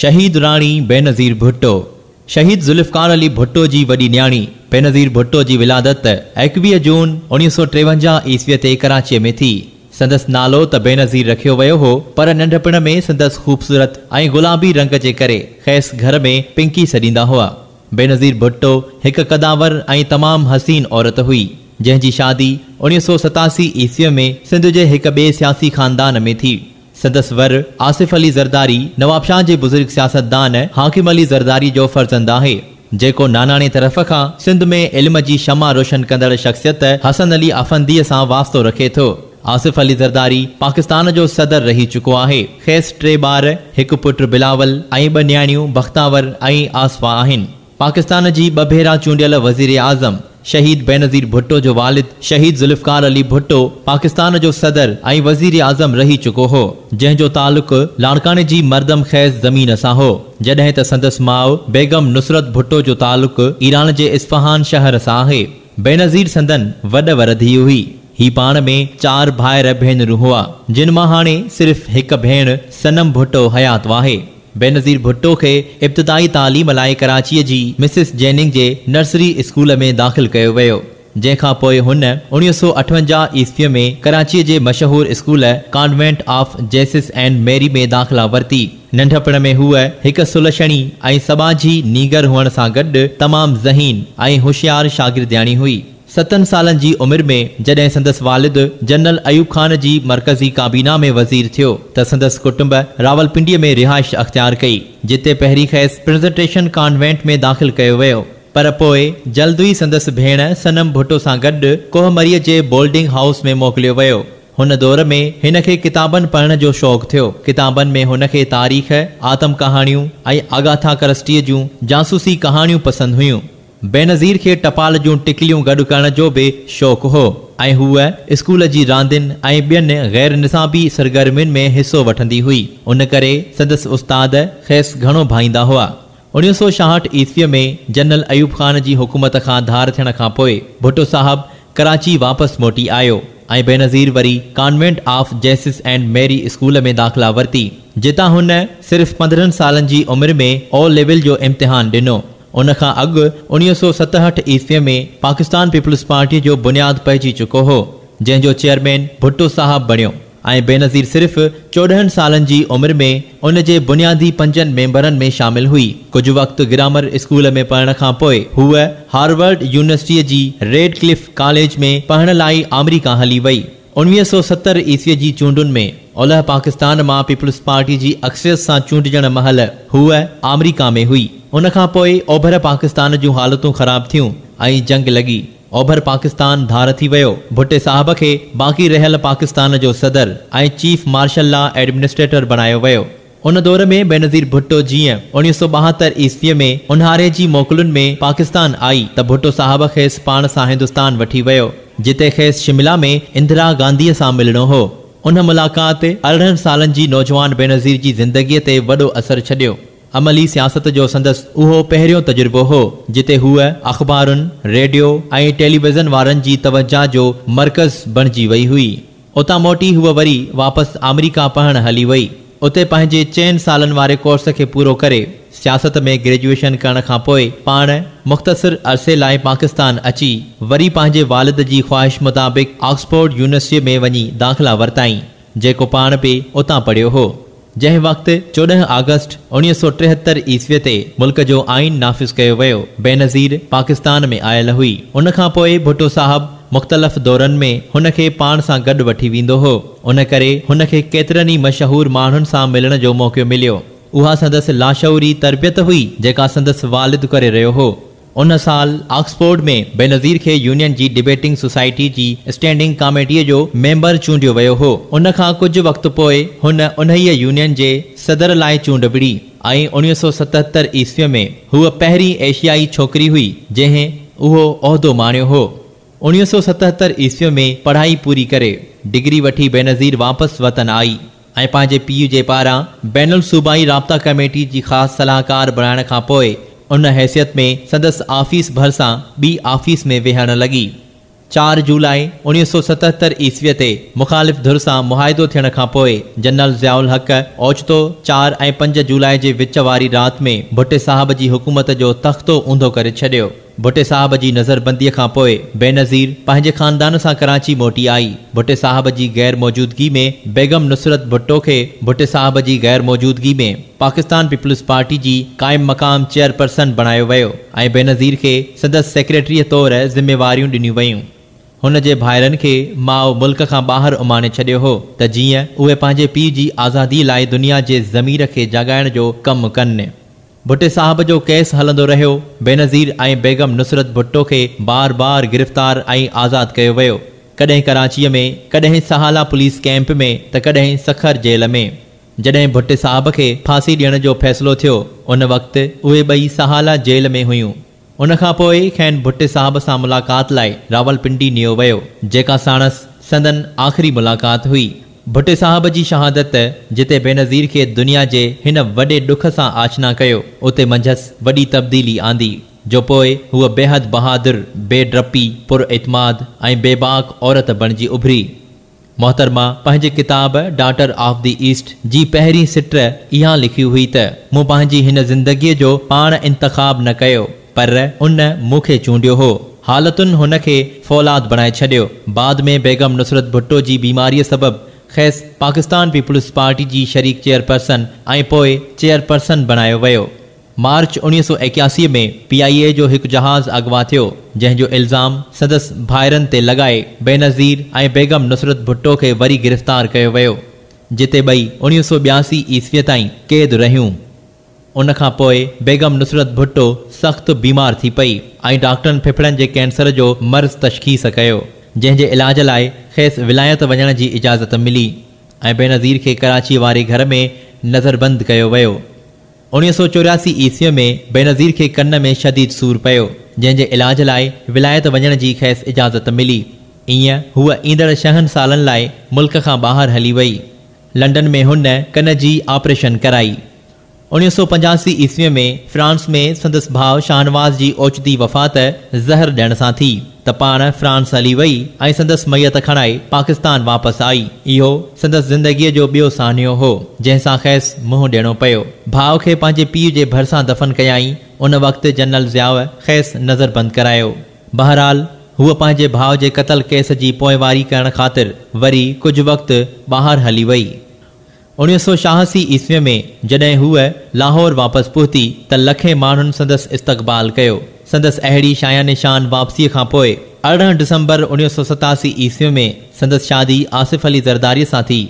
شهيد راڻي بينظير ڀٽو، شهيد ذوالفقار علي ڀٽو جي وڏي نياڻي بينظير ڀٽو جي ولادت ايڪويهه جون اڻيهه سؤ ٽيونجاهه عيسويء تي ڪراچيء ۾ ٿي. سندس نالو ته بينظير رکيو ويو هو، پر ننڍپڻ ۾ سندس خوبصورت ۽ گلابي رنگ جي ڪري کيس گهر ۾ پنڪي سڏيندا هئا. بينظير ڀٽو هڪ قدآور ۽ تمام حسين عورت هئي، جنهن جي شادي اڻيهه سؤ ستاسي عيسويء ۾ سنڌ جي هڪ ٻئي سياسي خاندان ۾ ٿي. سندس ور آصف علي زرداري نوابشاهه جي بزرگ سياستدان حاڪم علي زرداري جو فرزند آهي، جيڪو ناناڻي طرف کان سنڌ ۾ علم جي شمع روشن ڪندڙ شخصيت حسن علي افنديء سان واسطو رکي ٿو. آصف علي زرداري پاڪستان جو صدر رهي چڪو آهي. کيس ٽي ٻار، هڪ پٽ بلاول ۽ ٻه نياڻيون بختاور ۽ آصفا آهن. پاڪستان جي ٻه ڀيرا چونڊيل وزيراعظم شهيد بينظير ڀٽو جو والد شهيد ذوالفقار علي ڀٽو پاڪستان جو صدر ۽ وزيراعظم رهي چڪو هو، جنهن جو تعلق لاڙڪاڻي جي مردم خيز زمين سان هو، جڏهن ته سندس ماء بيگم نصرت ڀٽو جو تعلق ايران جي اصفهان شهر سان آهي. بينظير سندن وڏ ور ڌيء هئي. هي پاڻ ۾ چار ڀائر ڀينرون هئا، جن مان هاڻي صرف هڪ ڀيڻ صنم ڀٽو حيات آهي. بينظير ڀٽو کي ابتدائي تعليم لاء ڪراچيء جي مسز جيننگ جي نرسري اسڪول ۾ داخل ڪيو ويو، جنهن کان پوء هن اڻويهه سؤ اٺونجاهه عيسويء ۾ ڪراچيء جي مشهور school convent of Jesus and Mary ۾ داخلا ورتي. ننڍپڻ ۾ هوء هڪ سلڇڻي ۽ سٻاجهي نينگر هئڻ سان گڏ تمام ذهين ۽ هوشيار شاگردياڻي هئي. ستن سالن جي عمر ۾ جڏهن سندس والد جنرل ايوب خان جي مرڪزي ڪابينا ۾ وزير ٿيو ته سندس ڪٽنب راولپنڊيء ۾ رهائش اختيار ڪئي، جتي پهرين کيس پرزنٽيشن ڪانوينٽ ۾ داخل ڪيو ويو، پر پوء جلد ئي سندس ڀيڻ صنم ڀٽو سان گڏ ڪوهه مريء جي بولڊنگ هائوس ۾ موڪليو ويو. هن دور ۾ هن کي ڪتابن پڙهڻ جو شوق ٿيو. ڪتابن ۾ هن کي تاريخ، آتم ڪهاڻيون ۽ آگاٿا ڪرسٽيء جون جاسوسي ڪهاڻيون پسند هيون. بينظير کي ٽپال جون ٽڪليون گڏ ڪرڻ جو به شوق هو ۽ هوء اسڪول جي راندين ۽ ٻين غير نصابي سرگرمين ۾ حصو وٺندي هئي، ان ڪري سندس استاد کيس گهڻو ڀائيندا هئا. اڻيهه سؤ ڇاهٺ عيسويء ۾ جنرل ايوب خان جي حڪومت کان ڌار ٿيڻ کان پوء ڀٽو صاحب ڪراچي واپس موٽي آيو ۽ بينظير وري convent of Jesus and Mary school ۾ داخلا ورتي، جتان هن صرف پندرهن سالن جي عمر ۾ او ليول جو امتحان ڏنو. ان کان اڳ اڻيهه سؤ ستهٺ عيسويء ۾ پاڪستان پيپلز پارٽيء جو بنياد پئجي چڪو هو، جنهن جو چيئرمين ڀٽو صاحب بڻيو ۽ بينظير صرف چوڏهن سالن جي عمر ۾ ان جي بنيادي پنجن ميمبرن ۾ شامل هئي. ڪجهه وقت گرامر اسڪول ۾ پڙهڻ کان پوء هوء هارورڊ يونيورسٽيء جي ريڊ ڪلف ڪاليج ۾ پڙهڻ لاء آمريڪا هلي وئي. انويهه سؤ ستر عيسويء جي چونڊن ۾ اولهه پاڪستان مان پيپلز پارٽي جي اڪثريت سان چونڊجڻ مهل هوء آمريڪا ۾ هئي. ان کان پوء اوڀر پاڪستان جون حالتون خراب ٿيون ۽ جنگ لڳي. اوڀر پاڪستان ڌار ٿي ويو. ڀٽي صاحب کي باقي رهيل پاڪستان جو صدر ۽ چيف مارشل لا ايڊمنسٽريٽر بڻايو ويو. ان دور ۾ بينظير ڀٽو جيئن اڻويهه سؤ ٻاهتر عيسويء ۾ اونهاري جي موڪلن ۾ پاڪستان آئي ته ڀٽو صاحب کيس پاڻ سان هندستان وٺي ويو، جتي کيس شملا ۾ اندرا گانڌيء سان ملڻو هو. ان ملاقات ارڙهن سالن جي نوجوان بينظير جي زندگيء تي وڏو اثر ڇڏيو. عملي سياست جو سندس اهو پهريون تجربو هو، جتي هوء اخبارن، ريڊيو ۽ ٽيليويزن وارن جي توجهه جو مرڪز بڻجي وئي هئي. اتان موٽي هوء وري واپس آمريڪا پهڻ هلي وئي. اتي پنهنجي چئن سالن واري ڪورس کي پورو ڪري، سياست ۾ گريجوئيشن ڪرڻ کان پوء پاڻ مختصر عرصي لاء پاڪستان اچي، وري پنهنجي والد جي خواهش مطابق آڪسفورڊ يونيورسٽيء ۾ وڃي داخلا ورتائين، جيڪو پاڻ به اتان پڙهيو هو. جنهن وقت چوڏهن آگسٽ اوڻيهه سؤ ٽيهتر عيسوي تي ملڪ جو آئين نافذ ڪيو ويو، بينظير پاڪستان ۾ آيل هئي. ان کان پوء ڀٽو صاحب مختلف دورن ۾ هن کي پاڻ سان گڏ وٺي ويندو هو. ان ڪري هن کي ڪيترن ئي مشهور ماڻهن سان ملڻ جو موقعو مليو. اها سندس لاشعوري تربيت هئي جيڪا سندس والد ڪري رهيو هو. ان سال آڪسفورڊ ۾ بينظير کي يونين جي ڊبيٽنگ سوسائٽي جي اسٽينڊنگ ڪاميٽيء جو ميمبر چونڊيو ويو هو. ان کان ڪجهه وقت پوء هن انهيء يونين جي صدر لاء چونڊ وڙهي ۽ اڻويهه سؤ ستهتر عيسويء ۾ هوء پهرين ايشيائي ڇوڪري هئي جنهن اهو عهدو ماڻيو هو. اڻويهه سؤ ستهتر عيسويء ۾ پڙهائي پوري ڪري، ڊگري وٺي بينظير واپس وطن آئي. ۽ پنهنجي پيء جي پاران بين الصوبائي رابطا ڪميٽي جي خاص صلاحڪار بڻائڻ کان پوء ان حيثيت ۾ سندس آفيس ڀرسان ٻي آفيس ۾ ويهڻ لڳي. چار جولاء اوڻيهه سؤ ستهتر عيسويء تي مخالف ڌر سان معاهدو ٿيڻ کان پوء جنرل ضياء الحق اوچتو چار ۽ پنج جولاء جي وچ واري رات ۾ ڀٽي صاحب جي حڪومت جو تختو اونڌو ڪري ڇڏيو. ڀٽي صاحب جي نظر بنديء کان پوء بينظير پنهنجي خاندان سان ڪراچي موٽي آئي. ڀٽي صاحب جي غير موجودگي ۾ بيگم نصرت ڀٽو کي ڀٽي صاحب جي غير موجودگي ۾ پاڪستان پيپلز پارٽي جي قائم مقام چيئرپرسن بڻايو ويو ۽ بينظير کي سندس سيڪريٽريء طور ذميواريون ڏنيون ويون. هن جي ڀائرن کي ماء ملڪ کان ٻاهر اماڻي ڇڏيو هو ته جيئن اهي پنهنجي پيء جي آزاديء لاء دنيا جي ضمير کي جاڳائڻ جو ڪم ڪن. ڀٽي صاحب جو ڪيس هلندو رهيو، بينظير ۽ بيگم نصرت ڀٽو کي بار بار گرفتار ۽ آزاد ڪيو ويو، ڪڏهن ڪراچيء ۾، ڪڏهن سهالا پوليس ڪئمپ ۾ ته ڪڏهن سکر جيل ۾. جڏهن ڀٽي صاحب کي ڦاسي ڏيڻ جو فيصلو ٿيو، ان وقت اهي ٻئي سهالا جيل ۾ هيون. ان کان پوء کين ڀٽي صاحب سان ملاقات لاء راولپنڊي نيو ويو، جيڪا ساڻس سندن آخري ملاقات هئي. ڀٽي صاحب جي شهادت جتي بينظير کي دنيا جي هن وڏي ڏک سان آشنا ڪيو، اتي منجهس وڏي تبديلي آندي، جو پوء هوء بيحد بهادر، بي ڊپي، پر اعتماد ۽ بيباڪ عورت بڻجي اڀري. محترمه پنهنجي ڪتاب ڊاٽر آف دي ايسٽ جي پهرين سٽ اها لکي هئي ته مون پنهنجي هن زندگيء جو پاڻ انتخاب نه ڪيو پر ان مون کي چونڊيو هو. حالتن هن کي فولاد بڻائي ڇڏيو. بعد ۾ بيگم نصرت ڀٽو جي بيماريء سبب کيس پاڪستان پيپلز پارٽي جي شريڪ چيئرپرسن ۽ پوء چيئرپرسن بڻايو ويو. مارچ اوڻيهه سؤ ايڪياسي ۾ پي آء اي جو هڪ جهاز اغوا ٿيو، جنهن جو الزام سندس ڀائرن تي لڳائي بينظير ۽ بيگم نصرت ڀٽو کي وري گرفتار ڪيو ويو، جتي ٻئي اوڻيهه سؤ ٻياسي عيسويء تائين قيد رهيون. ان کان پوء بيگم نصرت ڀٽو سخت بيمار ٿي پئي ۽ ڊاڪٽرن ڦڦڙن جي ڪينسر جو مرض تشخيص ڪيو، جنهن جي علاج لاء کيس ولايت وڃڻ جي اجازت ملي ۽ بينظير کي ڪراچيء واري گهر ۾ نظربند ڪيو ويو. اڻيهه سؤ چورياسي عيسويء ۾ بينظير کي ڪن ۾ شديد سور پيو، جنهن جي علاج لاء ولايت وڃڻ جي کيس اجازت ملي. ايئن هوء ايندڙ ڇهن سالن لاء ملڪ کان ٻاهر هلي وئي. لنڊن ۾ هن ڪن جي آپريشن ڪرائي. اڻيهه سؤ پنجاسي عيسويء ۾ فرانس ۾ سندس ڀاء شاهنواز جي اوچتي وفات زهر ڏيڻ سان ٿي. ته پاڻ فرانس هلي وئي ۽ سندس ميت کڻائي پاڪستان واپس آئي. اهو سندس زندگيء جو ٻيو سانحو هو، جنهن سان کيس منهن ڏيڻو پيو. ڀاء کي پنهنجي پيء جي ڀرسان دفن ڪيائين، ان وقت جنرل ضياء کيس نظربند ڪرايو. بهرحال، هوء پنهنجي ڀاء جي قتل ڪيس جي پوئواري ڪرڻ خاطر وري ڪجهه وقت ٻاهر هلي وئي. اڻيهه سؤ شاهسي عيسويء ۾ جڏهن هوء لاهور واپس پهتي ته لکين ماڻهن سندس استقبال ڪيو. سندس اهڙي شايان شان واپسيء کان پوء ارڙهن ڊسمبر اڻيهه سؤ ستاسي عيسوي ۾ سندس شادي آصف علي زرداريء سان ٿي.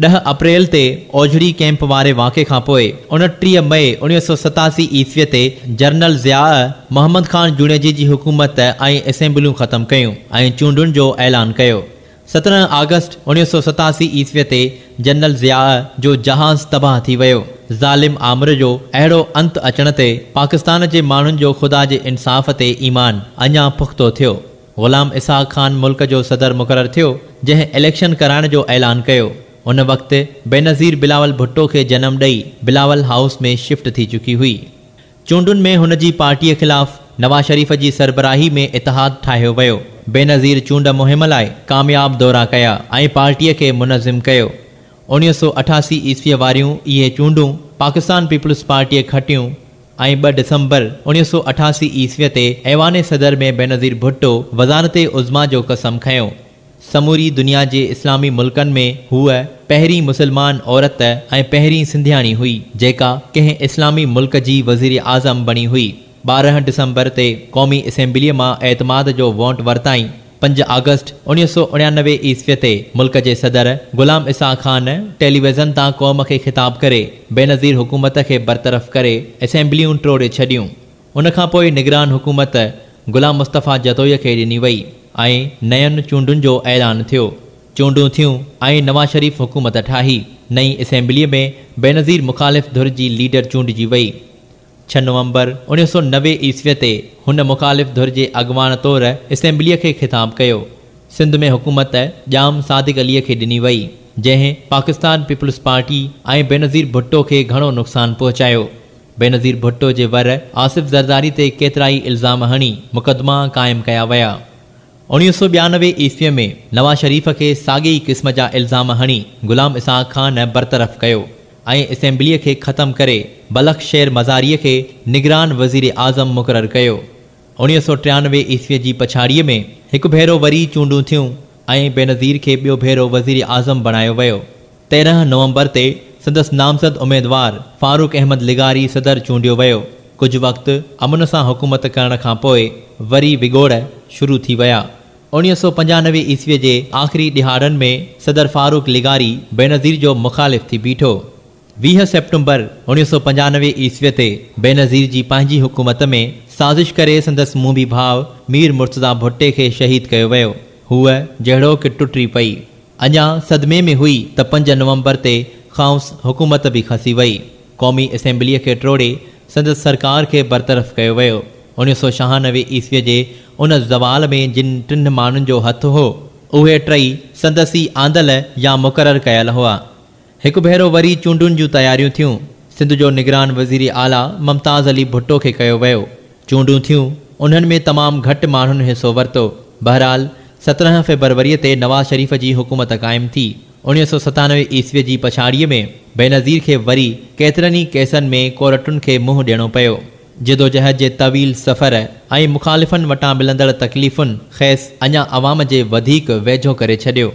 ڏهه اپريل تي اوجهڙي ڪئمپ واري واقعي کان پوء اڻٽيهه مئي اڻيهه سؤ ستاسي عيسويء تي جرنل ضياء محمد خان جوڻيجي جي حڪومت ۽ اسيمبليون ختم ڪيون ۽ چونڊن جو اعلان ڪيو. سترهن آگسٽ اوڻيهه سؤ ستاسي عيسويء تي جنرل ضياء جو جهاز تباهه ٿي ويو. ظالم آمر جو اهڙو انت اچڻ تي پاڪستان جي ماڻهن جو خدا جي انصاف تي ايمان اڃا پختو ٿيو. غلام اسحاق خان ملڪ جو صدر مقرر ٿيو، جنهن اليڪشن ڪرائڻ جو اعلان ڪيو. ان وقت بينظير بلاول ڀٽو کي جنم ڏئي بلاول هائوس ۾ شفٽ ٿي چڪي هئي. چونڊن ۾ هن جي پارٽيء خلاف نواز شريف جي سربراهي ۾ اتحاد ٺاهيو ويو. بينظير چونڊ مهم لاء ڪامياب دورا ڪيا ۽ پارٽيء کي منظم ڪيو. اڻيهه سؤ اٺاسي عيسويء واريون اهي چونڊون پاڪستان پيپلز پارٽيء کٽيون ۽ ٻه ڊسمبر اڻيهه سؤ اٺاسي عيسويء تي ايوان صدر ۾ بينظير ڀٽو وزارت عظميٰ جو قسم کنيو. سموري دنيا جي اسلامي ملڪن ۾ هوء پهرين مسلمان عورت ۽ پهرين سنڌياڻي هئي جيڪا ڪنهن اسلامي ملڪ جي وزيراعظم بڻي هئي. ٻارهن ڊسمبر تي قومي اسيمبليء مان اعتماد جو وونٽ ورتائين. پنج آگسٽ اڻيهه سؤ اڻيانوي عيسويء تي ملڪ جي صدر غلام اسحاق خان ٽيليويزن تان قوم کي خطاب ڪري بينظير حڪومت کي برطرف ڪري اسيمبليون ٽوڙي ڇڏيون. ان کان پوء نگران حڪومت غلام مصطفيٰ جتوئيء کي ڏني وئي ۽ نين چونڊن جو اعلان ٿيو. چونڊون ٿيون ۽ نواز شريف حڪومت ٺاهي. نئين اسيمبليء ۾ بينظير مخالف ڌر جي ليڊر چونڊجي وئي. ڇهه نومبر اڻيهه سؤ نوي عيسويء تي هن مخالف ڌر جي اڳواڻ طور اسيمبليء کي خطاب ڪيو. سنڌ ۾ حڪومت ڄام صادق عليء کي ڏني وئي، جنهن پاڪستان پيپلز پارٽي ۽ بينظير ڀٽو کي گهڻو نقصان پهچايو. بينظير ڀٽو جي ور آصف زرداري تي ڪيترائي الزام هڻي مقدما قائم ڪيا ويا. اوڻيهه سؤ ٻيانوي عيسويء ۾ نواز شريف کي ساڳي ئي قسم جا الزام هڻي غلام اسحاق خان برطرف ڪيو ۽ اسيمبليء کي ختم ڪري بلخ شير مزاريء کي نگران وزير اعظم مقرر ڪيو. اڻيهه سؤ ٽيانوي عيسوي جي پڇاڙيء ۾ هڪ ڀيرو وري چونڊون ٿيون ۽ بينظير کي ٻيو ڀيرو وزيراعظم بڻايو ويو. تيرهن نومبر تي سندس نامزد اميدوار فاروق احمد لغاري صدر چونڊيو ويو. ڪجهه وقت امن سان حڪومت ڪرڻ کان پوء وري وڳوڙ شروع ٿي ويا. اڻيهه سؤ پنجانوي عيسوي جي آخري ڏهاڙن ۾ صدر فاروق لغاري بينظير جو مخالف ٿي بيٺو. ويهه سيپٽمبر اوڻيهه سؤ پنجانوي عيسويء تي بينظير جي پنهنجي حڪومت ۾ سازش ڪري سندس موڀي ڀاء مير مرتضيٰ ڀٽي کي شهيد ڪيو ويو. هوء جهڙوڪ ٽٽي پئي. اڃا صدمي ۾ هئي ته پنج نومبر تي کانئس حڪومت به کسي وئي. قومي اسيمبليء کي ٽوڙي سندس سرڪار کي برطرف ڪيو ويو. اوڻيهه سؤ ڇهانوي عيسويء جي ان زوال ۾ جن ٽن ماڻهن جو هٿ هو، اهي ٽئي سندس ئي آندل يا مقرر ڪيل هئا. هڪ ڀيرو وري چونڊن جون تياريون ٿيون، سنڌ جو نگران وزير اعليٰ ممتاز علي ڀٽو کي ڪيو ويو، چونڊون ٿيون، انهن ۾ تمام گهٽ ماڻهن حصو ورتو، بهرحال سترهن فيبروريء تي نواز شريف جي حڪومت قائم ٿي، اڻيهه سؤ ستانوي عيسويء جي پڇاڙيء ۾ بينظير کي وري ڪيترن ئي ڪيسن ۾ ڪورٽن کي منهن ڏيڻو پيو، جدوجهد جي طويل سفر ۽ مخالفن وٽان ملندڙ تڪليفن کيس اڃا عوام جي وڌيڪ ويجهو ڪري ڇڏيو،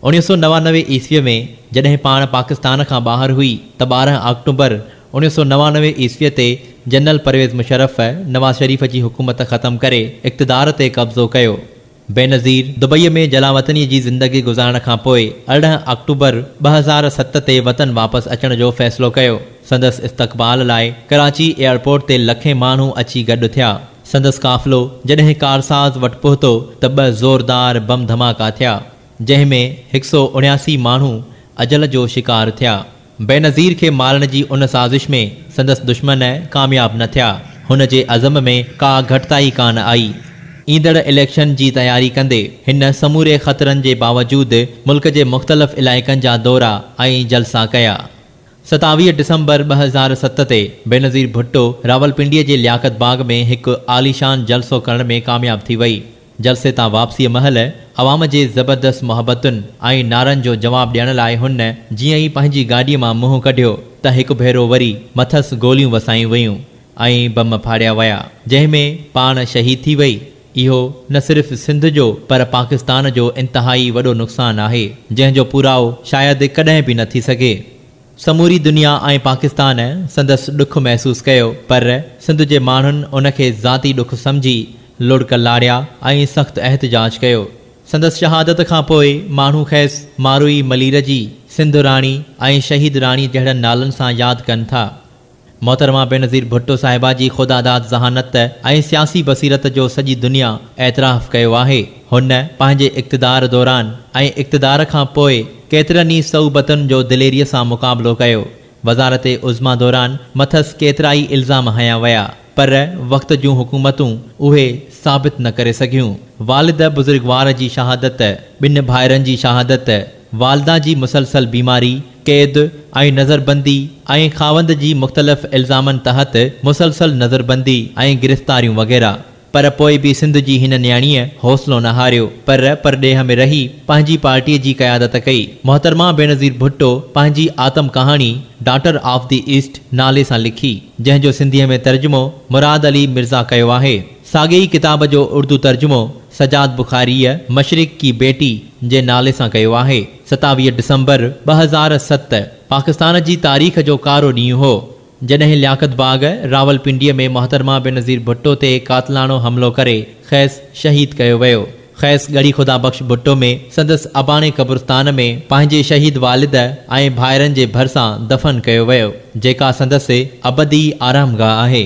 اڻيهه سؤ نوانوي عيسويء ۾ جڏهن پاڻ پاڪستان کان ٻاهر هئي ته ٻارهن آڪٽوبر اڻيهه سؤ نوانوي عيسويء تي جنرل پرويز مشرف نواز شريف جي حڪومت ختم ڪري اقتدار تي قبضو ڪيو. بينظير دبئيء ۾ جلاوطنيء جي زندگي گذارڻ کان پوء ارڙهن آڪٽوبر ٻه هزار ست تي وطن واپس اچڻ جو فيصلو ڪيو. سندس استقبال لاء ڪراچي ايئرپورٽ تي لکين ماڻهو اچي گڏ ٿيا. سندس قافلو جڏهن ڪارساز وٽ پهتو ته ٻه زوردار بم ڌماڪا ٿيا، جنهن ۾ هڪ سؤ اڻياسي ماڻهو اجل جو شڪار ٿيا. بينظير کي مارڻ جي ان سازش ۾ سندس دشمن ڪامياب نه ٿيا، هن جي عزم ۾ ڪا گهٽتائي ڪانه آئي. ايندڙ اليڪشن جي تياري ڪندي هن سموري خطرن جي باوجود ملڪ جي مختلف علائقن جا دورا ۽ جلسا ڪيا. ستاويهه ڊسمبر ٻه هزار ست تي بينظير ڀٽو راولپنڊيء جي لياقت باغ ۾ هڪ عاليشان جلسو ڪرڻ ۾ ڪامياب ٿي وئي. جلسي تان واپسيء مهل عوام جي زبردست محبتن ۽ نعرن جو جواب ڏيڻ لاء هن جيئن ئي پنهنجي گاڏيء مان منهن ڪڍيو ته هڪ ڀيرو وري مٿس گوليون وسايون ويون ۽ بم ڦاڙيا ويا جنهن ۾ پاڻ شهيد ٿي وئي. اهو نه صرف سنڌ جو پر پاڪستان جو انتهائي وڏو نقصان آهي، جنهن جو پورائو شايد ڪڏهن به نه ٿي سگهي. سموري دنيا ۽ پاڪستان سندس ڏک محسوس ڪيو پر سنڌ جي ماڻهن ان کي ذاتي ڏک سمجهي لڙڪ لاڙيا ۽ سخت احتجاج ڪيو. سندس شهادت کان پوء ماڻهو کيس ماروئي ملير جي، سنڌ راڻي ۽ شهيد راڻي جهڙن نالن سان ياد ڪن ٿا. محترمه بينظير ڀٽو صاحبه جي خداداد ذهانت ۽ سياسي بصيرت جو سڄي دنيا اعتراف ڪيو آهي. هن پنهنجي اقتدار دوران ۽ اقتدار کان پوء ڪيترن ئي صعوبتن جو دليري سان مقابلو ڪيو. وزارت عظميٰ دوران مٿس ڪيترائي الزام هنيا ويا پر وقت جون حڪومتون اهي ثابت نه ڪري سگهيون. والد بزرگوار جي شهادت، ٻن ڀائرن جي شهادت، والده جي مسلسل بيماري، قيد ۽ نظربندي ۽ خاوند جي مختلف الزامن تحت مسلسل نظربندي ۽ گرفتاريون وغيره پر پوء به سنڌ جي هن نياڻيء حوصلو نه هاريو پر پرڏيهه ۾ رهي پنهنجي پارٽيء جي قيادت ڪئي محترمه بينظير ڀٽو پنهنجي آتم ڪهاڻي ڊاٽر آف دي ايسٽ نالي سان لکي جنهن جو سنڌيء ۾ ترجمو مراد علي مرزا ڪيو آهي. ساڳئي ئي ڪتاب جو اردو ترجمو سجاد بخاريء مشرق ڪي بيٽي جي نالي سان ڪيو آهي. ستاويهه ڊسمبر ٻه هزار ست پاڪستان جي تاريخ جو ڪارو ڏينهن هو، جڏهن لياقت باغ راولپنڊيء ۾ محترمه بينظير ڀٽو تي قاتلاڻو حملو ڪري کيس شهيد ڪيو ويو. کيس ڳڙهي خدا بخش ڀٽو ۾ سندس اباڻي قبرستان ۾ پنهنجي شهيد والد ۽ ڀائرن جي ڀرسان دفن ڪيو ويو، جيڪا سندس ابدي آرامگاهه آهي.